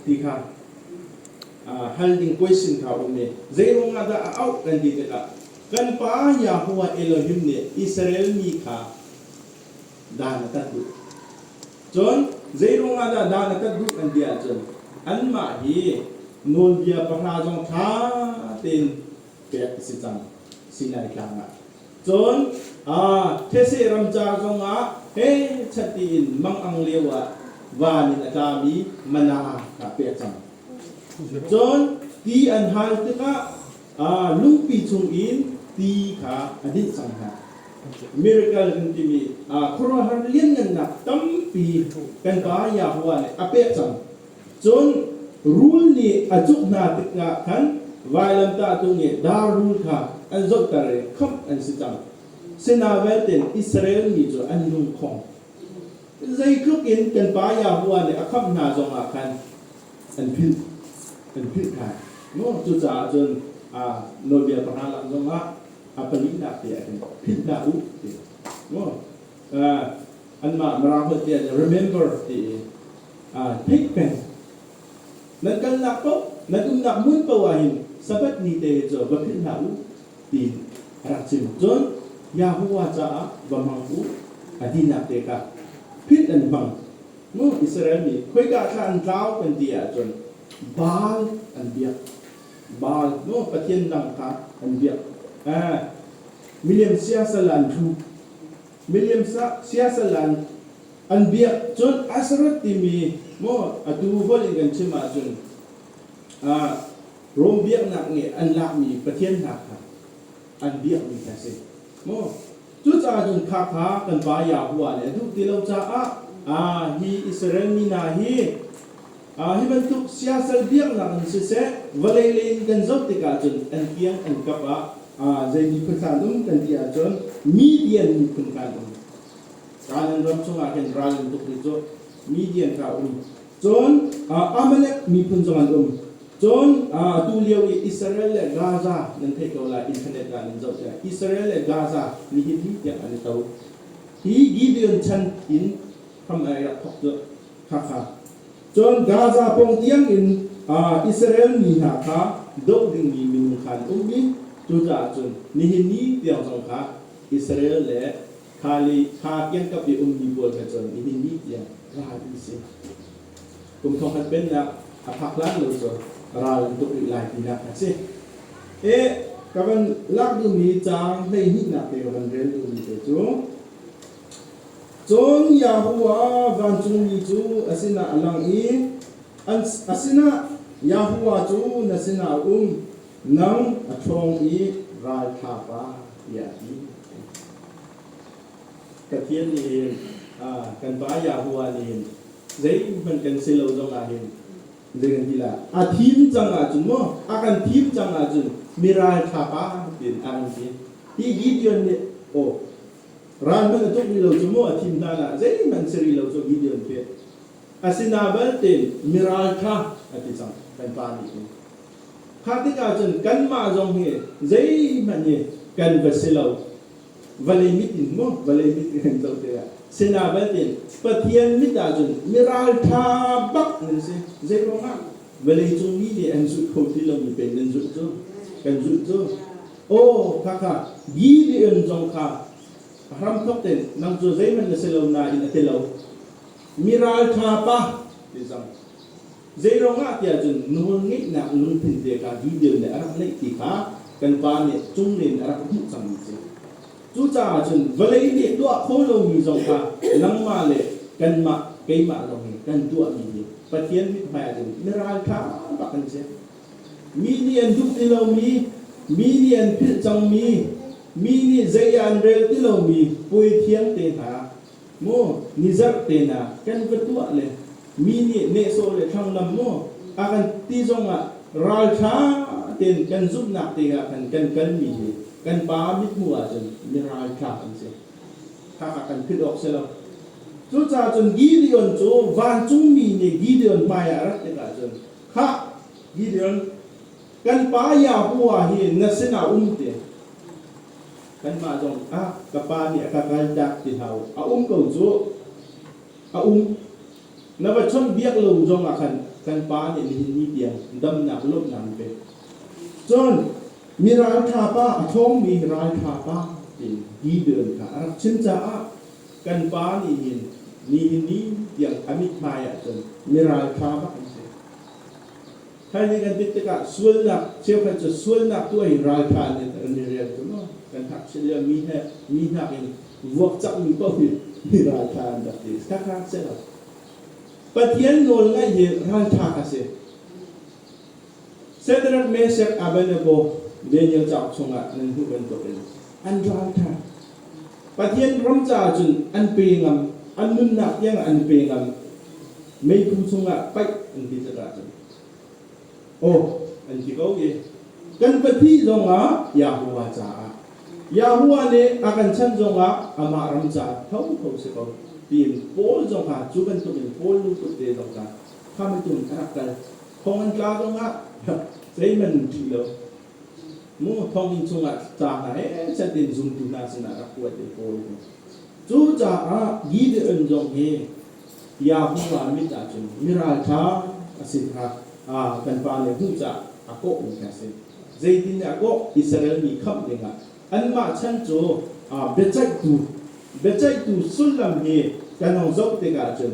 ti kha hal ding question kha um i zeiruang ah dah a auh kan ti tikah kan pa Yahweh Elohim nih Israel mi kha dan a tat duh cun zeiruang ah dah dan a tat duh kan ti ahcun anmah hi nawlbia pahra zong ṭha tein pek a si cang sinai tlang ah. Cun These ramcar zong ah pechat tiin mang'ang lio ah van in a tlami mana kaa pek cang. Cun ti an hal tikah lungpi chung in ti kha a dinh cang hna. Miracle kan timi khuaruahhar lianngannak tampi kan Pa Yahweh nih a pek cang. Cun rul nih a cuk hna tikah khan vailamtahtu nih dar rul kha an zohter i khamh an si cang. Sinah vialte Israel mi cu an lung khong. Zeitluk in kan pa Yahuwah nih a khamh hna zongah khan an philh, an philh hna. Cucaah cun nawlbia pahra lam zongah a palihnak te ah khin philhhlah u ti. Anmah Mara holh tiah remember ti i aa theih peng. Nan kalnak paoh, nan umnak hmun paoh ahhin Sabbath ni te cu va philh hlah u, tiin a rak chim. Cun Yahuwah caah va hmang u, a tinak te kha philh an hmang. Israel mi, khoika thla an tlau kan ti ahcun Baal an biak. Baal, pathian dang kha an biak. Miliam siasal an hruh. miliamsah siasalan an biak cun Asarot timi maw atu holh in kan chim ahcun ah Rom biaknak nih an lakmi pathian hna kha an biakmi kha si maw cucaah cun khakha kan pa Yahweh nih a duh ti lo caah ah hi Israel mi hna hi Hi bantuk siasal biaknak in siseh, vawlei lei in kan zoh tikah cun an tiang an kap ah zei miphun hlah an um kan ti ahcun Midian miphun hna an um. Kaan in ram chungah hin ral in tuk hi cu Midian hna um. Cun Amalek miphun zong an um. Cun tu lio i Israel le Gaza nan theih ko lai, internet kaan in zoh tiah Israel le Gaza nihin hi tiang an i to. Hi Gideon chan in hram ai rak thawk cu Cun Gaza pawng tiangin Israel mi hna kha doh dingmi minung kha an um i cucaah cun nihin ni tiang zong kha Israel le kha le kha kiangkap i ummi pawl he cun nihin ni tiang ral an si. Kum thongkhat pennak a phak hlan lo cu ral an tuk rih lai tinak a si. E, ka van lak duhmi caang hleihnih nak te ka van rel duhmi te cu Cun Yahuwah vancungmi cu a sinah a lang i a sinah, Yahuwah cu na sinah a um, nang a ṭhawng i ralṭha pa, tiah a ti. Pathian nih kan pa Yahuwah nih zeihmanh kan si lo zongah hin zei kan ti lai? A thim cang ahcun maw a kan thim cang ahcun mi ralṭha pa tiin a kan ti. Hi Gideon nih aw Raldoh a tuk rih lo cu maw a thim hlan ah zeihmanh si rih lo cu video an pek. Asina belte miral ṭha a ti cang kan pa nih hin. Kha tikah cun kanmah zong hi zeihmanh hi kan va si lo. Vawlei mit in maw vawlei mit kan zoh te lai. Sina belte Pathian mit ah cun miral ṭha bak nan si. Zeiruangah vawleicung mi nih an zulh kho ti lomi pei nan zulh cu? Kan zulh cu. Aw Hakha, Gibeon zong kha a hramthawk tein nang cu zeihmanh na si lo nain a ti lo. Mi ralṭha pa, ti cang. Zeiruangah tiah cun nawlngeihnak lungthin te kha Gibeon nih a rak neih ti kha kan pa nih cunglei in a rak hmuh cangmi a si. Cucaah cun vawlei nih tuah kho lomi zong kha nangmah le kanmah, keimah lawng in kan tuahmi hi Pathian mit hmai ah cun mi ralṭha pa kan si. Mi nih an duh ti lomi, mi nih an philh cangmi, mi nih zei ah an rel ti lomi puaithiam te hna, maw ni zarh tenak kan ka tuah le mi nih nehsawh le thlanglam maw a kan ti zongah ralṭha tein kan zumhnak dingah khan kan kalmi hi kan Pa mithmuh ahcun miralṭha kan si. Khakha kan philh awk si lo. Cucaah cun Gideon cu vancungmi nih Gideon hmaiah rat tikah cun Khah, Gideon, kan pa Yahweh hi na sinah um te. Kanmah zong ah ka pa nih a ka kaltak ti hau. A um ko cu. A um. Na va chawnh biak lo zong ah khan kan pa nih nihin ni tiang damnak lawmhnak an pek. Cun mi ralṭha pa, a ṭhawngmi ralṭha pa tiin Gideon kha a rak chim caah kan pa nih hin nihin ni tiang a mithmai ahcun mirang thla bak an si. Thaizing kan tit tikah sualnak, cheukhat cu sualnak tu ai raltha in an i rial cu maw? Kan hngakchia lio mi he mi hnak in vuak cangmi paoh hi mi raltha an rak ti. Khakha si lo. Pathian nawl ngaih hi raltha a si. Sedrak, Meshak, Abednego, Daniel cauk chungah nan hmuh bantukin an ral kha Pathian ram caah cun an pe ngam, an nunnak tiangah an pe ngam, meiphu chungah paih an ti tikah cun aw an ti ko i kan pahnih zongah Yahuwah caah Yahuwah nih a kan chanh zongah amah ram caah tho kho si ko tiin Paul zong kha cu bantukin Paul lungput te zong kha khamh tum a rak kal thong an tla zong ah zeiman ti lo mu thonginn chungah ca hna he set in zumtu hna sinah rak kuat i kawl cu caah Gideon zong hi Yahua mit ahcun mi ralṭha a si kha kan pa nih hmuh caah a kawh mi kha a si zeitin a kawh Israel mi khamh dingah anmah chan cu biaceihtu biaceihtu sullam hi kan hong zoh tikah cun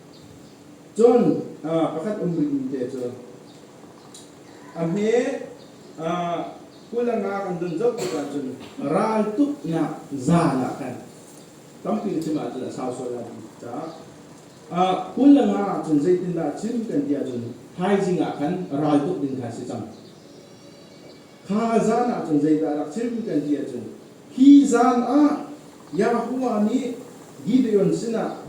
Cun pakhat um rihmi te cu a hme kulanga kan don zoh tik ahcun raltuknak zaan ah khan tampi chim ahcun a sau sual lai caah kulanga ahcun zeitindah a chim kan ti ahcun thaizing ah khan raltuk ding kha a si cang. Kha a zan ah cun zeidah a rak chim kan ti ahcun, Hi zan ah Yahuwah nih Gideon sinah,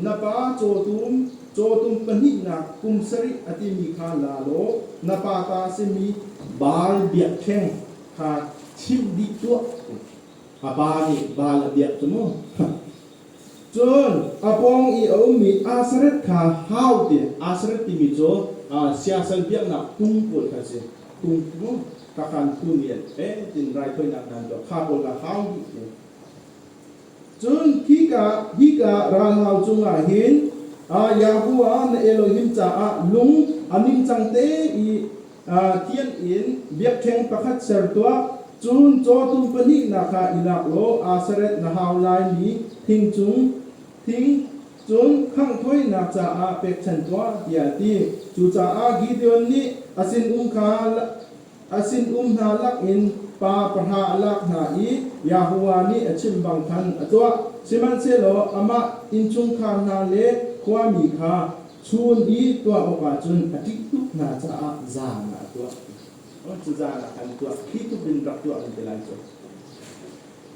Na pa cawtum, cawtum pahnihnak kum sarih a timi kha la law na pa ta a simi Baal biakṭheng kha chimh dih tuah. A pa nih Baal a biak cu mu. Cun a pawng i a ummi Asareth kha hau tein Asareth timi cu siasal biaknak phung pawl kha a si. Phung phu kakan phu nih an etin raithawinak nan tuah kha pawl kha hau dih u. Cun khika hika ralhau cungah hin Yahweh na Elohim caah lung a ningcang te i Tiang in biakṭheng pakhat ser tuah, cun cawtu pahnihnak ah i lak law aa seret na hau laimi thing cung thing, cun khangh thawinak caah pekchanh tuah, tiah a ti. Cucaah Gideon nih a sinum kha a sinum hna lakin pa pahra a lak hna i Yahuwah nih a chimh bang khan a tuah, sihmanhsehlaw amah innchungkhar hna le khuami kha, Chun i tuah awkah cun a ṭih tuk hna caah zan ah a tuah. Cu zan ah khan tuah, khi tluk in rak tuah an ti lai cu.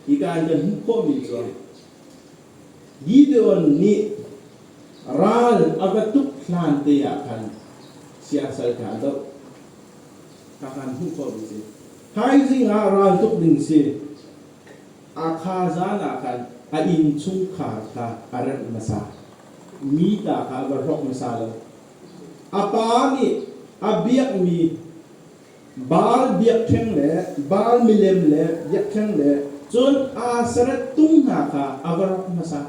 Hika in kan hmuh khawhmi cu, Gideon nih ral a va tuk hlante ah khan siasal kha a doh. Kha khan hmuh khawhmi si. Thaizing ah ral tuk ding si. A kha zan ah khan a innchungkhar kha a remh hmasa. mi ta kha va hlawk hmasa lo. A pa nih a biakmi Baal biakṭheng le Baal milem le biakṭheng le cun Aseret tung hna kha a va rawk hmasa.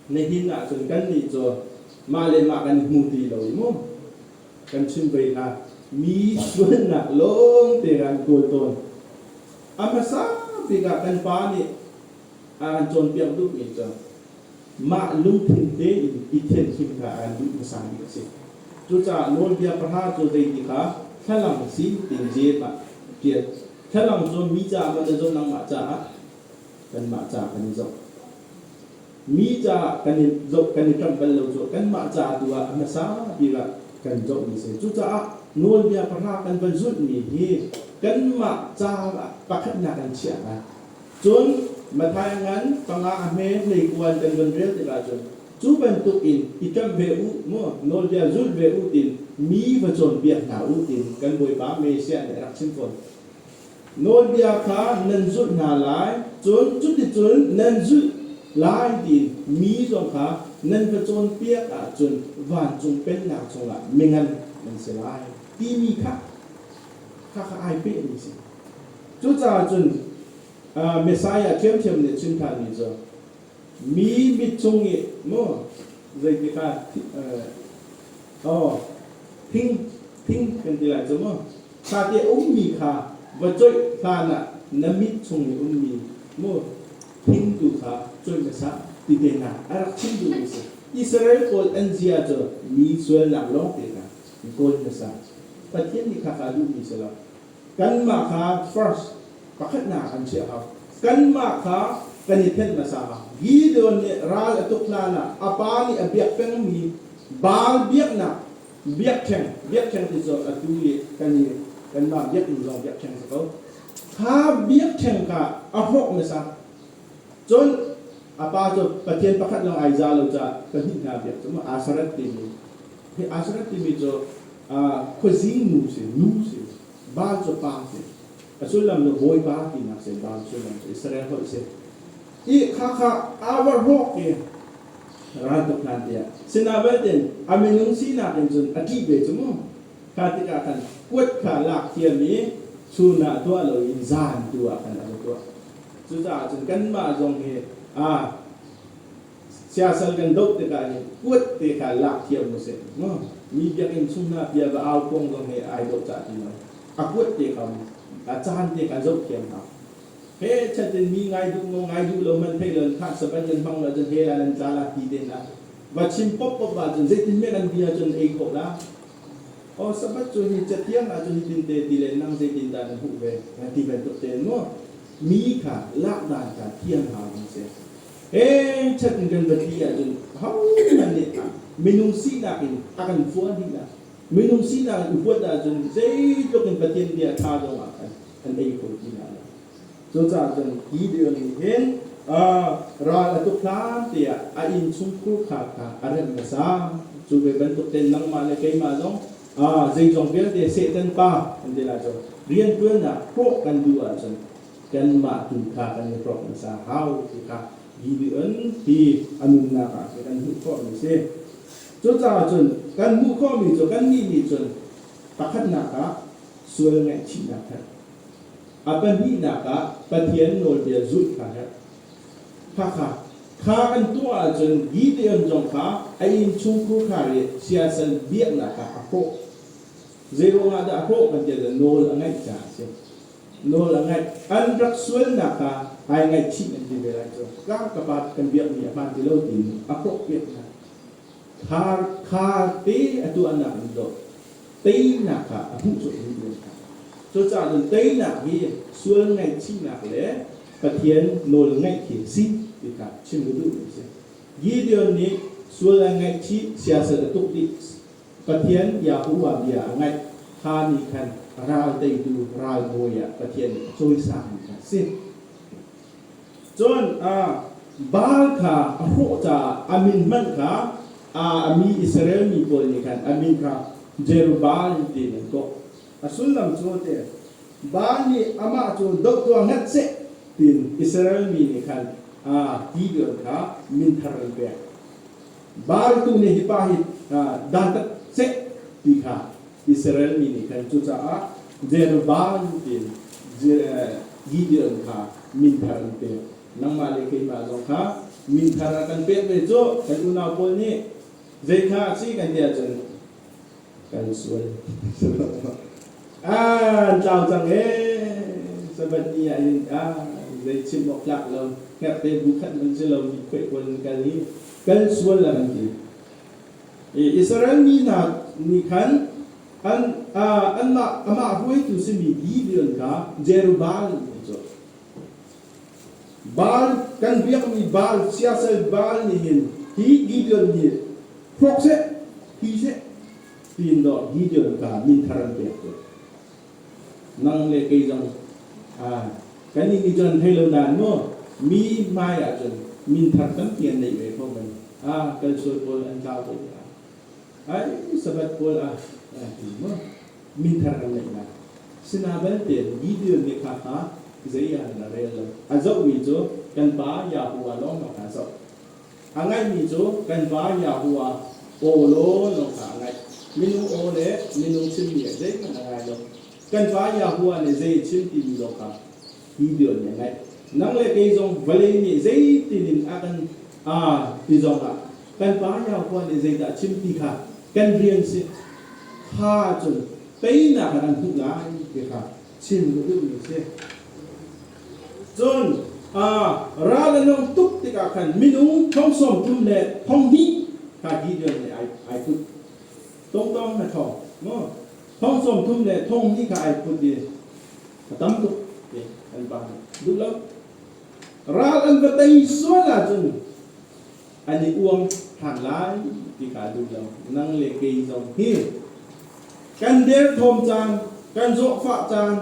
Nihin ahcun kannih cu mah le mah kan hmu ti lo i mu. Kan chim vei hlah, mi sualnak lawngte kan kawl tawn. A hmasa bik ah kan pa nih a an cawnpiak duh ning cun mah lungthin tein i thianhlim kha a kan duh hmasa bik a si. Cucaah Nawlbia pahra cu zeitik ah thlalang si tiin zel ah ṭial. Thlalang cu mi caah maw na zoh nangmah caah? Kanmah caah kan i zoh. Mi caah kan i zoh kan i ṭamh bal lo cu kanmah caah tu ah a hmasa bik ah kan zohmi a si. Cucaah Nawlbia pahra kan van zulhmi hi kanmah caah pakhatnak in chiah hna. Cun Matthai ngan panga a hme hleipuan kan van rel tikah cun, cu bantukin i ṭamh ve u, maw nawlbia zul ve u tiin mi va cawnpiak hna u tiin kan Bawipa Messiah nih a rak chim fawn. Nawlbia kha nan zulh hna lai, cun cuticun nan zulh lai tiin mi zong kha nan va cawnpiak ahcun vancung pennak chungah mingan nan si lai timi kha khakha ai pehmi a si. Cucaah cun Messiah ṭhiamṭhiam nih a chim ṭhanmi cu mi mit chung i maw zeitikah aw thing thing kan ti lai cu maw kha ti a ummi kha va cuaih hlanah na mit chung i ummi maw thingtu kha cuaih hmasa ti tehna a rak chim duhmi a si. Israel pawl an zia cu mi sualnak lawngte kha i kawl hmasa. Pathian nih khaka duhmi si lo. Kanmah kha first pakhatnak an chiah hau. Kanmah kha kan i thenh hmasa. Gideon nih ral a tuk hlan ah a pa nih a biak pengmi Baal biaknak biakṭheng, biakṭheng ti cun atu i kan i kanmah biaknu zong biakṭheng a si ko. Kha biakṭheng kha a hrawh hmasa. Cun a pa cu Pathian pakhat lawng ai za lo caah pahnih hna biak cu Asareth timi hi Asareth timi cu khuazi nu si, nu si, val cu pa si, a sullam cu Bawipa tinak si, val sullam cu Israel holh a si. I khakha aa warhawk i raltuk hlan tiah sinah vialte a minung sinak in cun a ṭih ve cu mu. Kha tikah khan kuat kha lak thiam i chun ah tuah loin zan tu ah khan a va tuah. Cucaah cun kanmah zong hi aa siasal kan doh tikah hin kuat te kha lak thiam u sih. Mi biakinn chung hna bia va au kuang zong hi ai doh cah ti lo. A kuat te kha a caan te kha zoh thiam hna. He chat in mi ngai duh maw ngai duh lo hmanh thei lo in khah sabat nan hmang lo cun he ah nan tla la ti te hna. Va chim pop pop ah cun zeitin hme kan bia cun ei khawh la. Aw Sabbath cu hi cathiang ah cun hitinte ti le nang zeitindah na hmuh ve an ti bantuk tein maw mi kha lakdan kha thiang hau an si heng chat in kan biapi ahcun hohmanh nih minung sinak in a kan phuan dih lah minung sinak in upuat ahcun zeitluk in Pathian bia ṭha zong ah khan an ei kho ti hna lo Cucaah cun Gideon nih hin ral a tuk hlan tiah a innchungkhur kha kha a remh hmasa. Cu ve bantuk tein nangmah le keimah zong zeizong vialte Satan pa kan ti lai cu rianṭuannak hrawh kan duh ahcun kanmah tu kha kan i hrawk hmasa hau ti kha Gideon hi a nunnak ah khin kan hmuh khawhmi a si. Cucaah cun kan hmuh khawhmi cu kannih nih cun pakhatnak ah sual ngaihchihnak khat A pahnihnak ah Pathian nawlbia zulh kha herh. Hakha. Kha kan tuah ahcun Gideon zong kha a innchungkhur khar i siasal biaknak ah a hrawh. Zei ruangah dah a hrawh kan tiah nawl a ngaih caah a si. Nawl a ngaih. An rak sualnak kha ai ngaihchih an ti ve lai cu. Ka ka pa kan biakmi a hmaan ti lo tiin a hrawh piak hna. Thar kha pe a tuahnak in dawh teinak kha a hmuh cuahmah. Cucaah cun teinak hi sual ngaihchihnak le Pathian nawl ngaih khi a si ti kha chim u duh a si. Gideon nih sual a ngaihchih, siasat a tuk dih, Pathian Yahuwah bia a ngaih kha nih khan ral teitu ralbawi ah Pathian nih a cawisangmi kha a si. Cun Baal kha a hrawh caah a min hmanh kha a mi Israel mi pawl nih khan a min kha Jerubbaal in tiin an kawh. A sullam cu a ti, Baal nih amah cu doh tuah ngat seh tiin Israel mi nih khan a ti vial kha min thar an pek. Bartu nih hi pa hi dantat chek ti kha Israel mi nih khan cucaah Jerban tiin Gideon kha min thar an pek. Nangmah le keimah zong kha min thar a kan pek ve cu kan unau pawl nih zei kha a si kan ti ahcun kan sual ah an tlau cang e sabat ni ah hin ah zei chim awk tlak lo herte bu khat man si lo mi khoi kual in kal hi kan sual la kan ti e Israel mi hna nih khan an anmah amah hruaitu si mi Gideon kha Jerubbal ti cu Baal, kan biakmi Baal, siasal Baal nih hin hi Gideon hi hrawk seh, thi seh, tiin dawh Gideon kha mi thar an pek cu. Nang le kei zong kannih nih cun thei lo dan maw mi hmaiah cun minthar tampi an neih ve ko men. A kalsual pawl an tlau ko dah. Ai, Sabbath pawl ah aa tim maw? Mithar an ngeihnak. Sina belte Gideon nih kha kha zei ah an ra rel lo. A zohmi cu kan Pa Yahuwah lawngmang kha a zoh. A ngaihmi cu kan Va Yahuwah aw law lawng kha a ngaih. Minu aw le minung chimmi ah zeihmanh a ngai lo. Kan Va Yahuwah nih zei a chim timi lawng kha Gideon nih a ngaih. Nang le kei zong vawlei nih zeitin in a kan aa ti zong ah kan pa Iaupa nih zeidah a chim ti kha kan rian si kha cun teinak ah kan hmuh lai ti kha chim a duhmi a si. Cun ral an hung tuk tikah khan minung thong sawm thum le thong hnih kha Gideon nih ai ai put. Tongtong na thong, maw? Thong sawm thum le thong hnih kha ai put i a tam tuk ti kan pa nih duh lo. Ral an va tei sual ahcun an i uam ṭhan lai ti kaa duh lo. Nang le kei zong hi kan derthawm caan, kan zawhfah caan,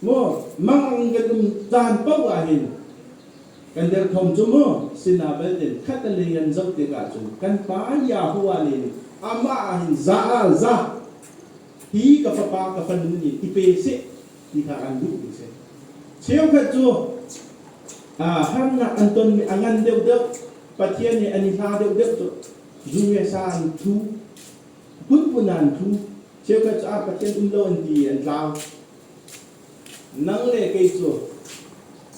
maw mangang kan um caan paoh ahhin kan derthawm cu maw sinah vialte khatalei an zoh tikah cun kan Pa Jehovah nih amah ahhin za ah za hi ka fapa ka fanu nih i pe seh ti hna an duh mi si cheukhat cu harnak an tonmi a ngan deuh deuh pathian nih an i hla deuh deuh cu zungesa an thu phunphun an thu cheukhat cu ah pathian um lo an ti an tlau nang le kei cu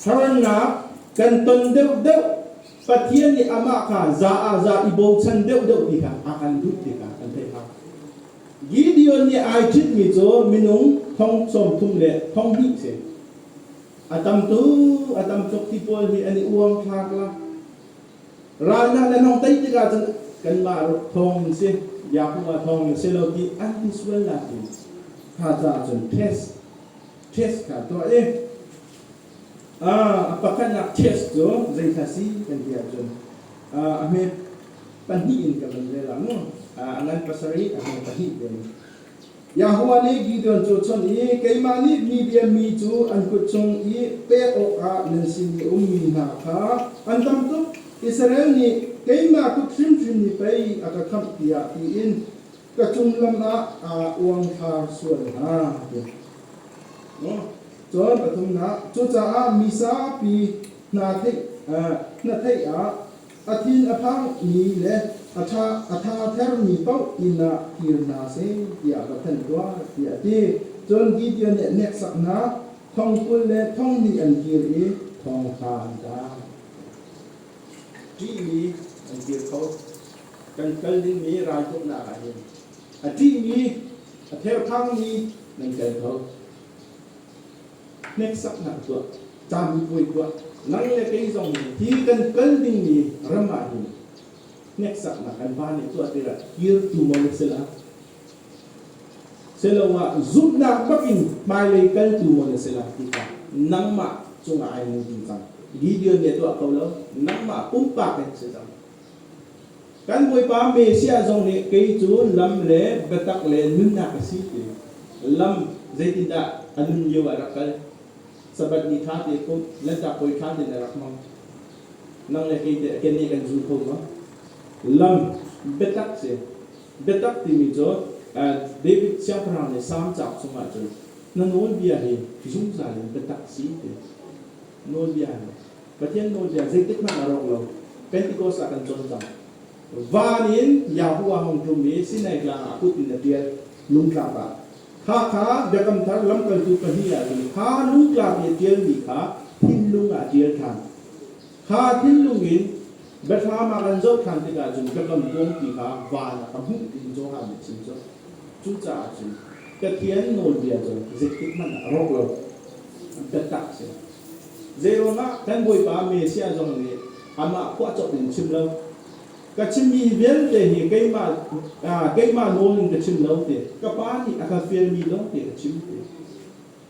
harnak kan ton deuh deuh pathian nih amah ka za ah za i bochan deuh deuh ti kha a kan duh ti kha an theih hna Gideon nih ai ṭhitmi cu minung thong sawmthum le thong hnih si. A tam tu, a tam tuk ti pawl hi an i uang thlak la. Ralnak nan hong tei tikah cun kanmah ruk thawng in si, Yahuwah thawng in si lo ti an ti sual nak in kha caah cun test, test kha tuah i a pakhatnak test cu zeihla si kan ti ahcun a hme pahnih in ka van rel mu a ngan pasarih a hme pahnih te Yahweh nih Gideon cu chun i keimah nih Midian mi cu an kut chung i pek awkah nan sin i ummi hna kha an dam tuk Israel nih keimah kut hrimhrim ni pei a ka khamh tiah tiin ka cung lam ah aa uangthlar sual hna. Cun pathumnak, cucaah mi zapi hna theih ah a thin a phangmi le a tha thermi paoh inn ah kir hna seh tiah va thanh tuah, tiah a ti. Cun Gideon nih hneksaknak thong kul le thong hnih an kir i thong kha an kal. Ṭihmi an kir ko. Kan kal dingmi raltuknak ah hin A ṭihmi, a therhkhangmi nan tel ko. Hneksaknak tuah, ṭambupuai tuah, nang le kei zong nih hi kan kal dingmi ram ah hin hneksaknak kan pa nih tuah tikah kirtu maw na si la? Siloah zumhnak bak in hmailei kaltu maw na si la ti kha nangmah cungah ai nung ding cang. Gideon nih a tuah ko lo, nangmah pumpak in si cang. Kan Bawipa Messiah zong nih kei cu lam le biatak le nunnak a si ti lam zeitindah a nun lio ah rak kal? Sabbath ni ṭha te ko, Lanhtak Puai ṭha tein a rak hmang. Nang le kei teh keneh kan zul kho maw? Lam biatak si. Biatak timi cu David Siangpahrang nih Salm cauk chungah cun, Na nawlbia hi zungzal in biatak si, ti a si. Nawlbia in Pathian nawlbia zeitikhmanh a rawk lo. Pentecost ah kan cawn cang. Van in Yahuwah hong ṭum i Sinai Tlang ah kut in a ṭial, lungtlak ah. Hakha Biakam Thar lamkaltu pahnih ah hin kha lungtlang i a ṭialmi kha thinlung ah a ṭial ṭhan. Kha thinlung in biathlam ah kan zoh ṭhan tikah cun Biakam Kuangpi kha van ah ka hmuh tiin Johan nih a chim cu. Cucaah cun Pathian nawlbia cu zeitikhmanh ah rawk lo biatak a si. Zeiruangah kan Bawipa Messiah zong nih amah phuahcawk in chim lo, ka chimmi vialte hi keimah, keimah nawl in ka chim lo, ti ka Pa nih a ka fialmi lawngte ka chim, ti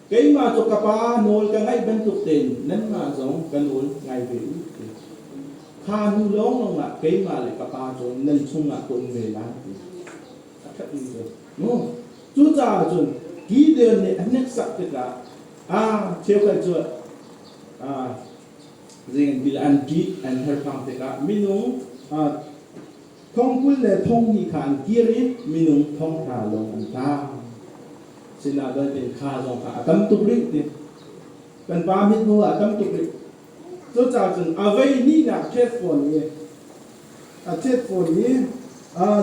Keimah cu ka pa nawl ka ngaih bantuk tein nanmah zong ka nawl ngai ve u. Kha hnu lawnglawng ah keimah le ka pa cu nan chungah ka um ve lai. A ṭhat mi cu. No. Cucaah cun Gideon nih a hneksak tikah aa cheukhat cu aa zeitin ti le an ṭih an herhfang tikah minung aa Thong kul le thong hnih kha an kir i minung thongtla lawng an tang. Sinah doitin kha zong kha a tam tuk rih ti. Kan pa mit hnu a tam tuk rih. Cucaah cun a vei hnihnak ṭhet fawn i a ṭhet fawn i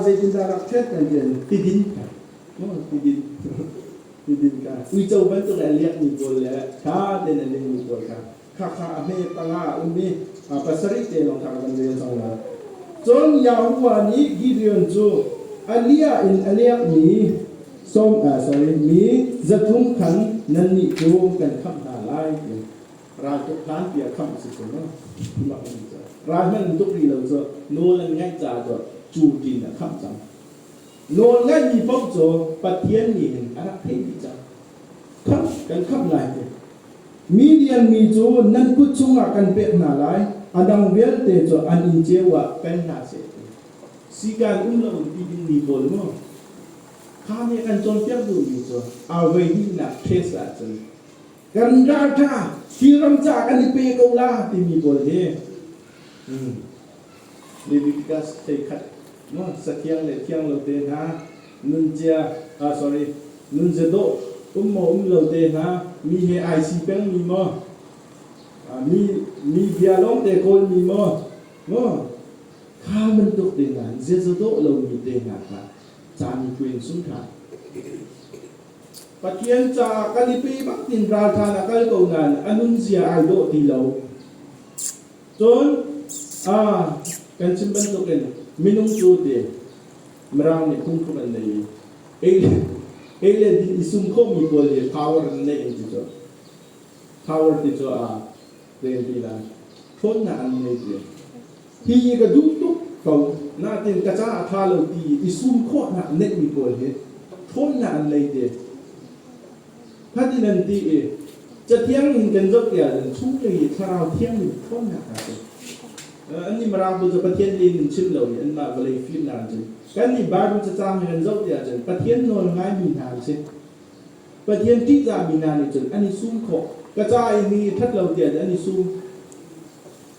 zeitindah rak ṭhet kan ti tidin ka tidin tidin ka uico bantuk le a liakmi pawl le ṭha tein a lingmi pawl kha Khakha a hme panga a um i pasarih te lawng kha a kan rel cang lai. Cun Yahuwah nih Gideon cu a liah in a liakmi som, sorry, mi zathum khan nannih cu kan khamh hna lai ti raltuk hlanpi a khamh a si cu maw? Mak an ti cu! Ral hman tuk rih lo cu nawl an ngaih caah cu ṭin a khamh cang. Nawlngaihmi paoh cu Pathian nih in a rak theihmi cang. Khamh kan khamh lai ti. Midian mi cu nan kut chungah kan pek hna lai, a dang vialte cu an inn ceu ah kai hna seh ti. Sikan um loin ti dingmi pawl mu, kha nih a kan cawnpiak duhmi cu a voihnihnak case ahcun Kan data hi ram ca kan i pe ko la timi pawl hi hmm. Leviticus thei khat no sathiang le thiang lo te hna nunzia ah ah sorry nunzia dawh um mo um lo te hna mi he ai si peng mi mo mi mi bia long te kawl mi mo no kha bantuk te hna zia dawh lo mi te hna kha cani kuin sung kha Pathian ca kan i pe bak in ralṭhan a kal ko nain a nunzia ai dawh ti lo. Cun, ah, kan chim bantukin minung cu ti Mirang nih phungthluk an nei i ei le din i sum khawhmi pawl hi power an neih an ti cu. Power ti cu a len ti lai. Ṭhawnnak an ngei ve. Hi ka duh tuk ko nain ka caah a ṭha lo ti i sum khawhnak neihmi pawl hi ṭhawnnak an lei te. Fatin an ti i Cathiang in kan zoh ti ahcun chunglei i thlarau thianghlim ṭhawnnak a si. Annih Mirang bu cu Pathian tein an chim lo i anmah vawlei fimnak an chim. Kannih Bible cacang in kan zoh ti ahcun Pathian nawl ngaimi hna an si. Pathian ṭihzahmi hna nih cun an i sum khawh. Ka ca i mi i ṭhat lo tiah an i sum.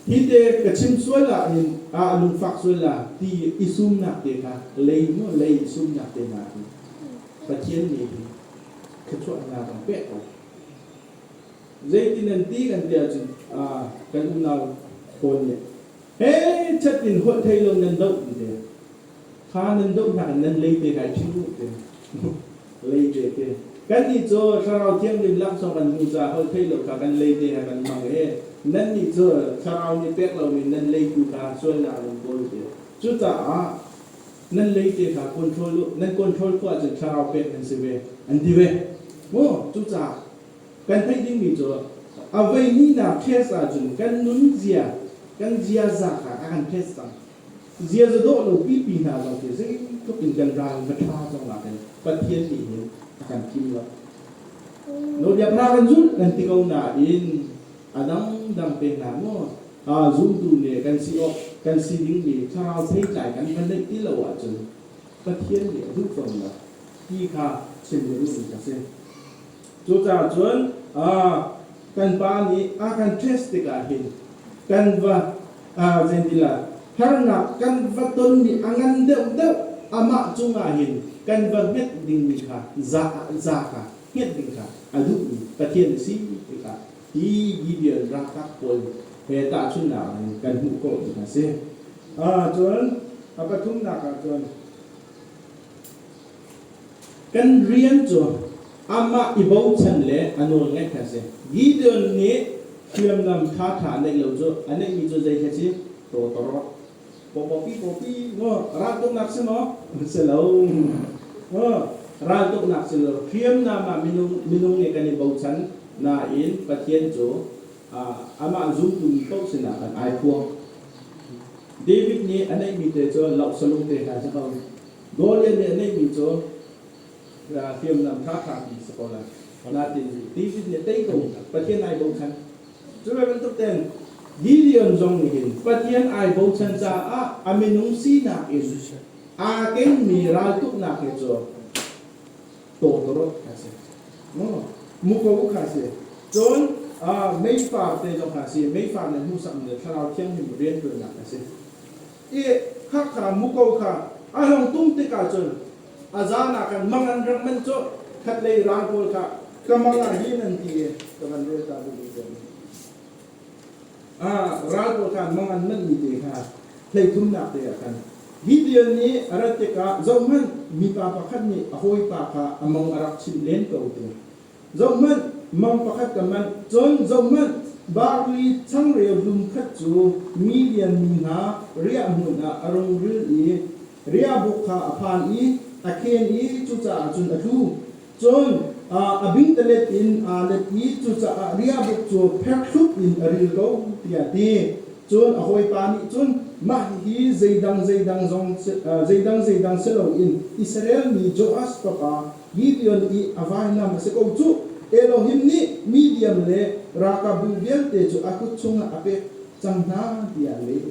Hite ka chim sual ahhin ah a lungfak sual la ti i sumnak te kha lei maw lei i sumnak te hna hi Pathian nih hi thluachuah hna kan pek ko. Zeitin an ti kan ti ahcun kan unau pawl nih hei chat in holh thei lo nan doh ti te. Kha nan doh hna in nan lei te kai ṭhu te, lei te te. Kannih cu Thlarau Thianghlim laksawng kan hmuh caah holh theih lo kha kan lei te he kan hmang i nannih cu Thlarau nih pek lomi nan leitu kha sualnak in an kawl ve. Cucaah nan lei te kha control u, nan control khawh ahcun Thlarau pek nan si ve, an ti ve. Maw cucaah kan theih dingmi cu a voihnihnak test ahcun kan nunzia, kan ziaza kha a kan test cang. Ziaza dawhlo pipi hna zong khi zeitluk in kan ral va ṭha zong ah hin Pathian nih hin a kan thim lo. Nawlbiaknak kan zulh kan ti ko nain a dangdang te hna maw aa zumtu ne kan si awk kan si dingmi thlarau theitlai kan va neih ti lo ahcun Pathian nih a duh fawn lo ti kha chim ding a si. Cucaah cun kan pa nih a kan test tikah hin kan va zeitinlah harnak kan va tonmi a ngan deuhdeuh amah cungah hin kan va hmet dingmi kha za kha hmet ding kha a duhmi Pathian a si tikah hi Gideon ralkap pawl he tahchunhnak in kan hmuh khawh cu a si. Cun a pathumnak ah cun Kan rian cu amah i bochan le a nawl ngaih kha a si. Gideon nih hriamnam ṭhaṭha a neih lo cu a neihmi cu zei khi a si? Dawtor. Pawpi pawpi maw raltuknak si maw? Si lo. Raltuknak si lo. Hriamnam ah minung minung nih kan i bochan nain Pathian cu amah zumtu mi paoh sinah kan ai phuang. David nih a neihmi te cu loh salung te hna a si ko. Nawl le meh neihmi cu hriamnam ṭhaṭhami si ko lai. Natein tizit nih tei ko Pathian ai bochan. Cu bantuk tein Gideon zong nih hin Pathian ai bochan caah a minung sinak in aa kengmi raltuknak hi cu tawtawrot kha si. Muko kha si. Cun meifar te zong kha si. Meifar nih hmuhsakmi le thlarau thianghlim rianṭuannak a si. i Hakha muko kha a hung tum tikah cun a zan ah kan mang an rak manh colh, khatlei ral pawl kha ka mang ah hin an ti i ka van rel ta dih dih cang. Ah, ral pawl kha mang an manhmi te kha hleithumnak te ah khan Gideon nih a rat tikah zohhmanh, mipa pakhat nih a hawipa kha a mang a rak chinh len ko te. Zohhmanh, mang pakhat ka manh, cun zohhmanh, barli changreu hlum khat cu mi lianmi hna riah hmun ah a rungril i riahbuk kha a phan i a khen i cucaah cun a tlu. Cun a bingtalet in aa let i cucaah riahbuk cu pherthlup in a ril ko, tiah a ti. Cun a hawipa nih cun, Mah hihi zeidang zeidang zong zeidang zeidang si loin Israel mi Joash fapa Gideon i a vailam a si ko cu, Elohim nih Midiam le ralkapbu vialte cu a kut chungah a pek cang hna, tiah a leh.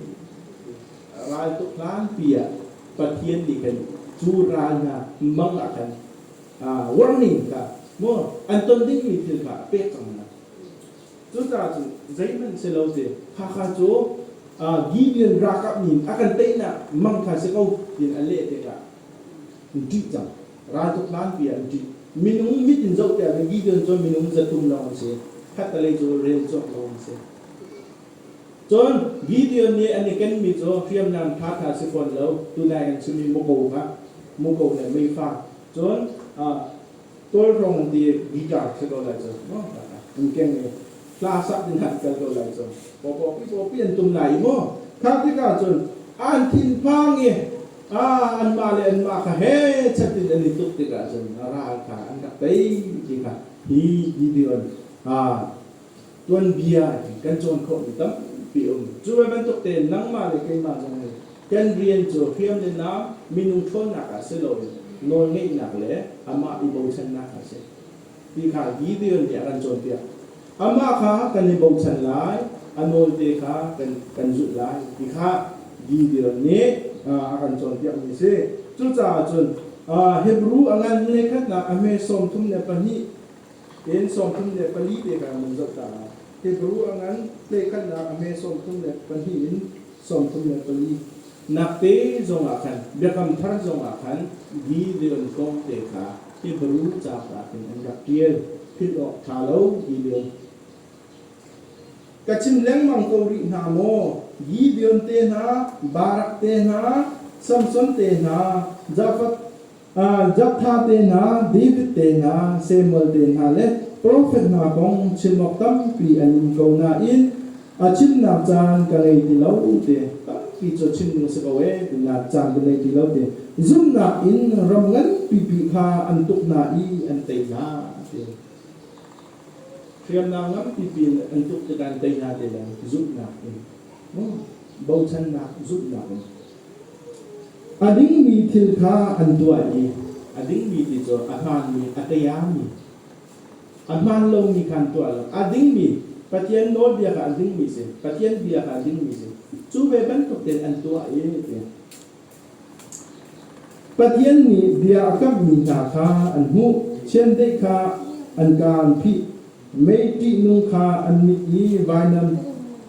Raltuk hlanpi ah Pathian nih khan cu ral hna mang ah khan warning kha maw an ton dingmi thil kha a pek cang hna. Cucaah cun zeihmanh si lo cu khakha cu Gideon ralkap nih a kan teinak mang kha si ko tiin a leh tikah Ṭih cang. Raltuk hlanpi ah an ṭih. Minung mit in zohter ding Gideon cu minung zatum lawng a si. Khattelei cu rel cuak lawng a si. Cun Gideon nih an i kenmi cu hriamnam ṭhaṭha si fawn lo, tunai kan chimmi muko kha, muko le meifang, cun Kawlrawng ti guitar khat aw lai cu maw an keng i hla sak ding khan kal ko lai cu pawpi pawpi an tum lai maw kha tikah cun an thinphang i anmah le anmah kha he chat in an i tuk tikah cun a ral kha an rak tei ti kha hi video an tuanbia hi kan cawn khawhmi tampi a um. Cu ve bantuk tein nangmah le keimah zong nih kan rian cu hriam le naam, minung ṭhawnnak ah si loin nawlngeihnak le amah i bochannak a si ti kha Gideon nih a kan cawnpiak. Amah kha kan i bochan lai, a nawlte kha kan kan zulh lai ti kha Gideon nih a kan cawnpiakmi a si. Cucaah cun Hebru a ngan hmunekhatnak a hme sawm thum le pahnih Inn sawmthum le pali te ka nan zoh ta lai. Hebru a ngan hlei-khanhnak a hme sawmthum le pahnih in sawmthum le pali. Nakte zongah khan, biakam thar zongah khan billion kawngte kha Hebru capar in an rak ṭial, philh awk ṭha lo billion. Ka chim lengmang ko rih hna maw? Gideon te hna, Barak te hna, Samson te hna, Jafat Jafta te hna, David te hna, Samuel te hna le profet hna kong chim awk tampi an um ko nain a chimnak caan ka ngei ti lo ti tampi cu chim ding a si ko ee tinak caan ka ngei ti lo ti zumhnak in ram nganpipi kha an tuk hna i an tei hna ti hriamnam nganpipi an tuk tikah an tei hna ti le zumhnak in bochannak zumhnak in A dingmi thil kha an tuah i a dingmi ti cu a hmaanmi, a tayami, a hmaan lomi kha an tuah lo. A dingmi, Pathian nawlbia kha a dingmi si, Pathian bia kha a dingmi si. Cu ve bantukin an tuah i tiah. Pathian nih bia a kamhmi hna kha an hmuh, chiandeih kha an ka an phih, Mei ṭihnung kha an mit i vainam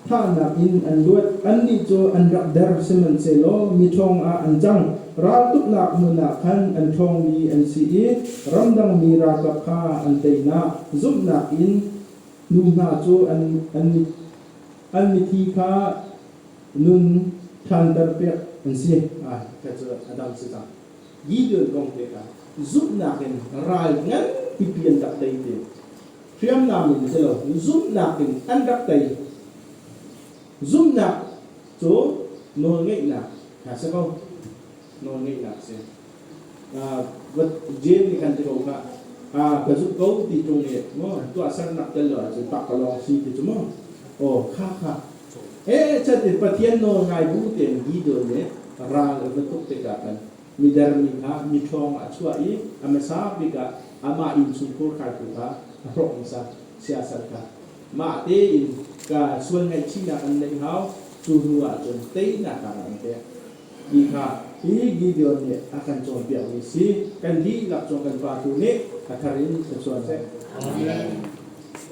thahnak in an luat, annih cu an rak der, sihmanhsehlaw mi ṭhawngah an cang. Raltuknak hmun ah khan an ṭhawngmi an si i ramdangmi ralkap kha an teinak zumhnak in nu hna cu an mithi kha nun ṭhanterpiak an si. Ka cu a dam si cang. Gideon kong pek ah zumhnak in ral nganpi an rak tei te. Hriamnam in si lo, zumhnak in an rak tei. Zumhnak cu nawlngeihnak ha si ko. Nawlngeihnak si. Uh, wat Jane nih kan ti ko kha ah ka zumh ko ti tung nih maw tuahsernak tel lo ahcun pak ka long si ti cu maw aw kha kha Pehchat in Pathian nawlngai bu tein Gideon nih ral a va tuk tikah khan mider mi hna miṭhawng ah a chuah i a hmasa bik ah amah innchungkhur khaltu kha a hrawh hmasa, siasal kha mah tein kaa sual ngaihchihnak an neih hau, cu hnuah cun teinak ah an pek. Ti kha hi Gideon nih a kan cawnpiakmi a si, kan dihlak cu kan Pa tu nih a thar in ka cuan hlah. Amen.